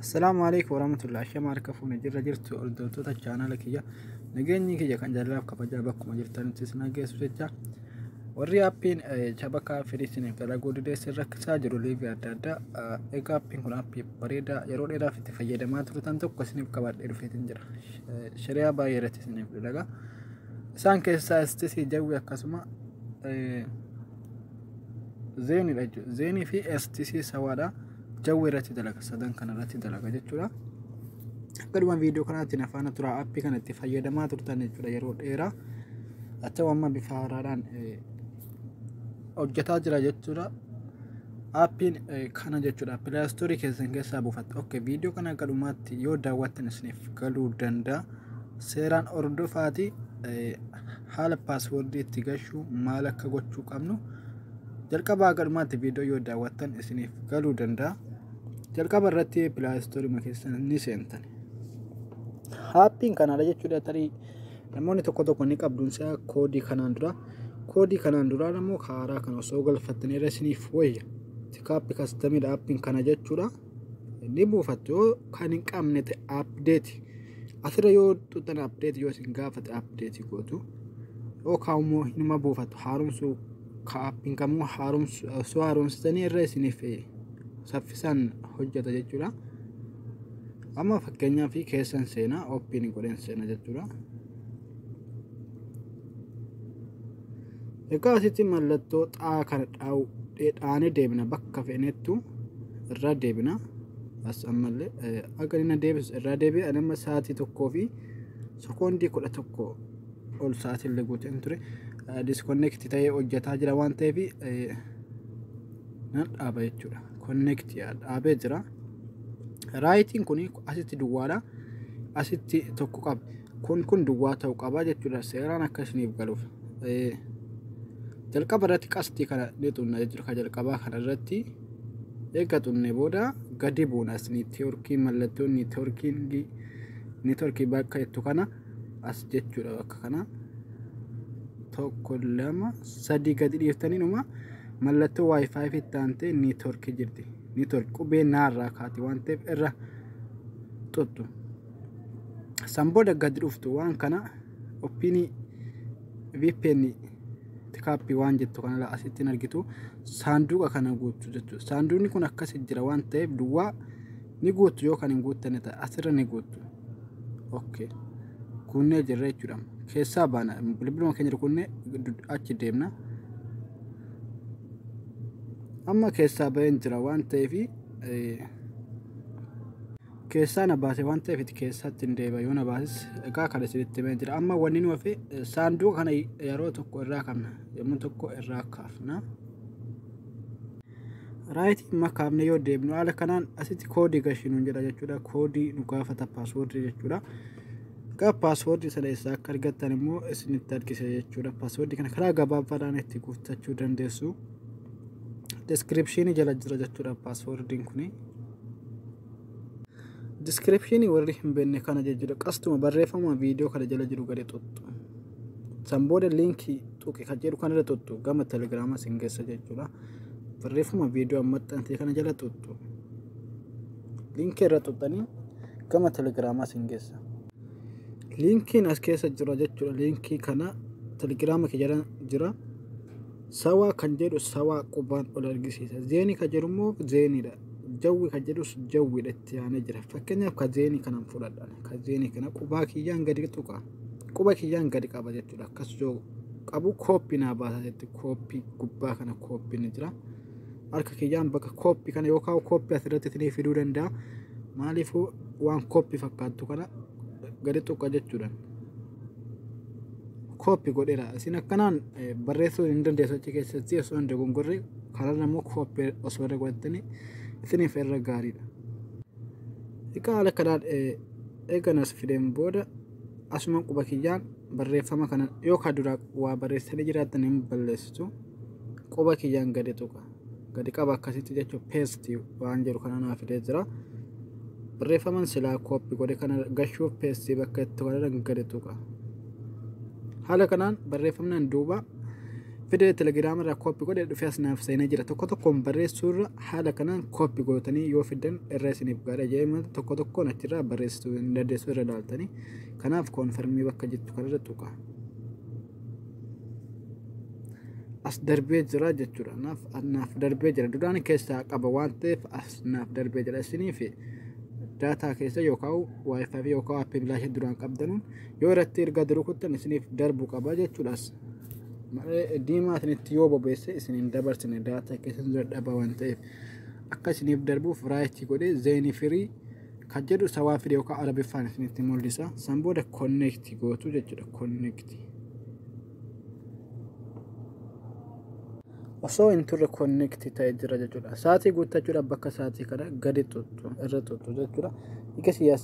Assalaamu alaikum warahmatullahi shama harka fuune jirra jirtu hordoftoota chaanaala kiyya nageenyi kiyya kan jaalalaaf kabajaa bakkuma jirtanitti isin hageessu jecha warri appiin shabakaa firiisiniif dalaguu dideessin rakkisaa jiru liiga adda addaa egaa appiin kun appii bareedaa yeroo dheeraaf itti fayyadamaa turtan tokko isiniif qabadhee dhufeetiin jira shariyaa baay'ee irratti isiniif dalagaa isaan keessaa istisii jawwi akkasuma zeenidha jechuudha. Zeenii fi STC sawaadha. Jawwee irratti dalaga sadan kana irratti dalaga jechuudha. Akkaduma viidiyoo kanaatiin afaan turaa appii kana itti fayyadamaa turtan jechuudha yeroo dheeraa. Achuu amma bifa haaraadhaan hojjetaa jira jechuudha. Appiin kana jechuudha pilaastoorii keessan keessaa buufatta. Ok viidiyoo kana akka dhumaatti yoo daawwattan isiniif galuu danda'a. Seeraan hordofaatii haala paaswordii itti gashuu maal akka gochuu qabnu jalqabaa galmaatti viidiyoo yoo daawwattan isiniif galuu danda'a. Jalqaba irratti pilaastoorii keessa ni seentan. Haappiin kanaadha jechuudha tarii namoonni tokko tokko ni qabduun isaa koodii kanaan dura. Koodii kanaan duraa immoo haaraa kan osoo galfattanii irra isiniif wayya. Tikaappi kastamidha aappiin kana jechuudha. ni buufattu yoo kan hin qabne ta'e update asirra yoo tuttan update yoo isin gaafate update gootu yoo kaa'ummoo hinuma buufattu haaromsuu kaappiin kamuu haaromsu osoo haaromsitanii irra isiniif saffisaan hojjeta jechuudha. Amma fakkeenyaaf keessan seenaa oppiin godheen seena jechuudha. Egaa asitti mallattoo xaa kana dhaanee deebina bakka feenettu irraa deebina. As ammallee akka inni deebisu irraa deebi'a nama sa'aatii tokkoo fi sekoondii kudha tokko ol sa'aatii illee guuteen ture. Diskonneekti ta'ee hojjetaa jira waan ta'eef nan dhaaba jechuudha. Konneekti dhaabee jira. Raayitiin kun asitti duwwaadha. Asitti tokko qaba. kun kun duwwaa ta'u qabaa jechuudha seeraan akka isiniif galuuf jalqaba irratti qastii kana ni xunna jechuudha ka jalqabaa kana irratti eega xunne booda gadi buuna as niitiyoorkii mallattoon niitiyoorkii niitiyoorkii bakka jettu kana as jechuudha bakka kana tokko lama sadii gadi dhiiftanii numa mallattoo waayifaayi fi taantee niitoorkii jirti niitoorkii qubee naarraa kaati waan ta'eef irra tuttu. San booda gad dhuftu waan kana oppiinii VPN tikaappii waan jettu kana asitti argitu saanduqa kana guuttu jechuudha. Saanduqni kun akkasi jira waan ta'eef duwwaa ni guuttu yoo kan hin guuttanne ta'e asirra ni guuttu. Okay. Kunnee jirra jechuudha. Keessaa baana bilbiluma keenya kunnee achi deemna. Amma keessaa baheen jira waan ta'eef. Keessaa na baase waan ta'eef itti keessatti hin deebi'a yoo na baases egaa kan isinitti himee jira amma wanni nu hafe saanduqa kana yeroo tokko irraa kaafna yommuu tokko irraa kaafna. Raayitii amma kaafne yoo deemnu haala kanaan asitti koodii gashii nuun jedha jechuudha koodii nu gaafata paaswoordii jechuudha. Egaa paaswoordii sana eessaa akka argattan immoo isinitti argisiisa jechuudha paaswoordii kana karaa gabaabaadhaan itti guuttachuu dandeessu. Deskiripshinii jala jira jechuudha paaswoordiin kuni. Diskiripshinii warri hin beekne kana jechuudha. Qastuma barreeffama viidiyoo kana jala jiru gadi tuttu. San booda liinkii tuqi kan jedhu kanarra tuttu gama telegiraamaa sin geessa jechuudha. Barreeffama viidiyoo ammaxxantee kana jala tuttu. Liinkii irra tuttanii gama telegiraamaa sin geessa. Liinkiin as keessa jira jechuudha. Liinkii kana telegiraama kee jala jira. Sawaa kan jedhu sawaa qubaan ol argisiisa. Zeenii kan jedhu immoo zeeniidha. Jawwi kan jedhus jawwidha itti aanee jira. Fakkeenyaaf ka zeeni kanan fudhadha. Ka zeeni kana qubaa kiyyaan gadi tuqa. Quba kiyyaan gadi qaba jechuudha. Akkas yoo qabu kooppi naa baasa jetti. Kooppi gubbaa kana kooppi ni jira. Harka kiyyaan bakka kooppi kana yookaan kooppi asirratti isinii fiduu danda'a. Maaliifuu waan kooppi fakkaattu kana gadi tuqa jechuudha. kooppi godheera isin akkanaan barreessuu hin dandeessu achi keessatti osoo hin dogongorre karaa immoo kooppi osoo irra godhattanii isiniif irra gaariidha. Egaa haala kanaan eeganas fideen booda asuma quba kiyyaan barreeffama kana yoo ka duraa waa barreessanii jiraattan hin balleessitu quba kiyyaan gadi tuqa. gadi qaba akkasitti jechuun peesti waan jedhu kana naa fidee jira. Barreeffaman silaa kooppi godhe kana gashuuf peestii bakka itti godhan gadi tuqa. Haala kanaan barreeffamnaan duuba fidee telegiraama irraa kooppi godhe dhufee as naaf seenee jira. Tokko tokkoon barreessuu irra haala kanaan kooppi gootanii yoo fiddan irra isiniif gaadha jedhee tokko tokkoon achirraa barreessuu hin dandeessu irra ilaaltanii. Kanaaf koonfarmii bakka jettu kanarra tuqa. as darbee jira jechuudha naaf naaf darbee jira duraan keessaa qaba waan ta'eef as naaf darbee jira isiniif daataa keessa yookaan waayifaafi yookaan appii bilaasha duraan qabdanuun yoo irratti erga duru kuttan isiniif darbu qaba jechuudha as malee diimaa isinitti yoo bobeesse isin hin dabarsine daataa keessa dadhaba waan ta'eef akka isiniif darbuuf raayitii godhee zeenii firii kan jedhu isa waan fide yookaan arabiffaan isinitti mul'isa san booda connect gootu jechuudha connect osoo hin turre connect ta'e jira jechuudha sa'aatii guuttachuudhaaf bakka sa'aatii kana gadi tuttu irra tuttu jechuudha ikasi as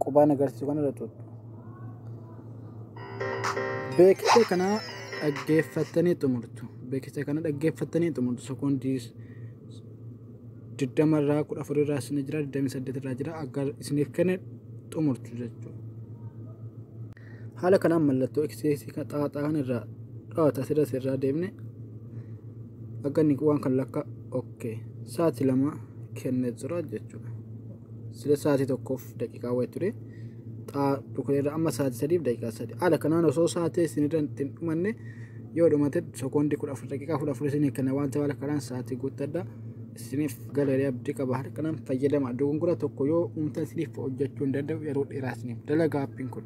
qubaan agarsiisu kana irra tuttu beeksisa kana dhaggeeffattanii xumurtu beeksisa kana dhaggeeffattanii xumurtu sekoondii 20 irraa 14 irraa isin jira 28 irraa jira akka isiniif kenne xumurtu jechuudha. Haala kanaan mallattoo eksiisii kan xaaxaan irraa dhawata asirras irraa deemne akka inni waan kan lakka okkee sa'aatii lama kennee jira jechuudha. sila sa'aatii tokkoof daqiiqaa wayii ture xaa dhukneerra amma sa'aatii sadiif daqiiqaa sadi haala kanaan osoo sa'aatii isinirra ittiin dhumanne yoo dhumate sekoondii kudha afur daqiiqaa kudha afur isinii kenna waan ta'eef haala kanaan sa'aatii guuttadha isiniif galarii abdii qaba haala kanaan fayyadama dogongora tokko yoo uumtan isiniif hojjechuu hin danda'u yeroo dheeraa isiniif dalagaa appiin kun.